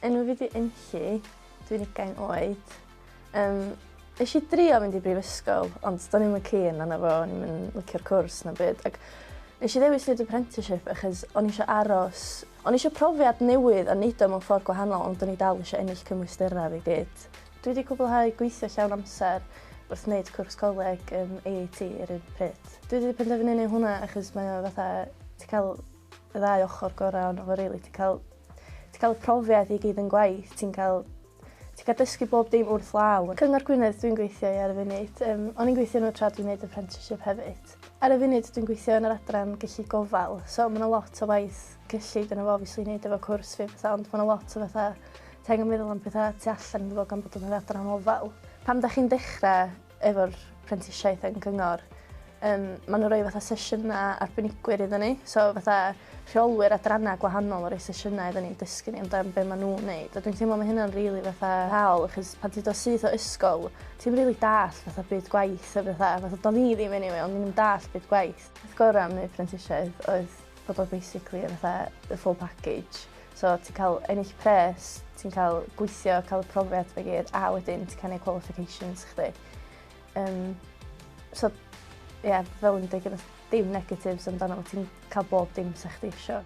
Enw fi di Inci, dwi'n ugain oed. Um, Nes i drio mynd i brifysgol, ond do'n i'n keen yna fo, o'n i'n licio'r cwrs na byd. Ac nes i ddewis neud apprenticeship achos o'n i eisiau aros, o'n i eisiau profiad newydd a neud o mewn ffordd gwahanol, ond o'n i dal eisiau ennill cymwysterau fi gyd. Dwi wedi cwblhau gweithio llawn amser wrth wneud cwrs coleg yn AAT yr un pryd. Dwi wedi penderfynu neud hwnna achos mae o fatha ti cael y ddau ochr gorau ond fo rili ti'n cael ti'n cael y profiad i gyd yn gwaith ti'n cael ti'n cael dysgu bob dim wrth law. Cyngor Gwynedd dwi'n gweithio i ar y funud. Um, o'n i'n gweithio nhw tra dwi'n gwneud apprenticeship hefyd. Ar y funud dwi'n gweithio yn yr adran gyllid gofal, so mae'n lot o waith cyllid yna fo obviously neud efo cwrs fi fatha ond ma' 'na lot o fatha t'angen meddwl am petha tu allan iddo fo gan bod yn adran ofal. Pan 'dach chi'n dechre efo'r prentisiaeth yn gyngor yym ma' n'w roi fatha sesiyna arbenigwyr iddo ni so fatha rheolwyr adranna gwahanol yn roi sesiyna iddo ni i dysgu ni amdan be' ma' nw'n neud a dwi'n teimlo ma' hynna'n rili fatha waal achos pan ti do' syth o ysgol ti'm rili dallt fatha byd gwaith a petha fatha do'n i ddim eniwe o'n i 'im yn dallt byd gwaith. Peth gora' am neud prentisiaeth oedd bod o basically yn fatha y full package. So ti'n cael ennill pres, ti'n cael gweithio, cael y profiad fe gyd, a wedyn ti'n cael ei qualifications chdi. Um, so, ie, yeah, fel yn dweud, dim negatives amdano, ti'n cael bob dim sy'n chdi eisiau.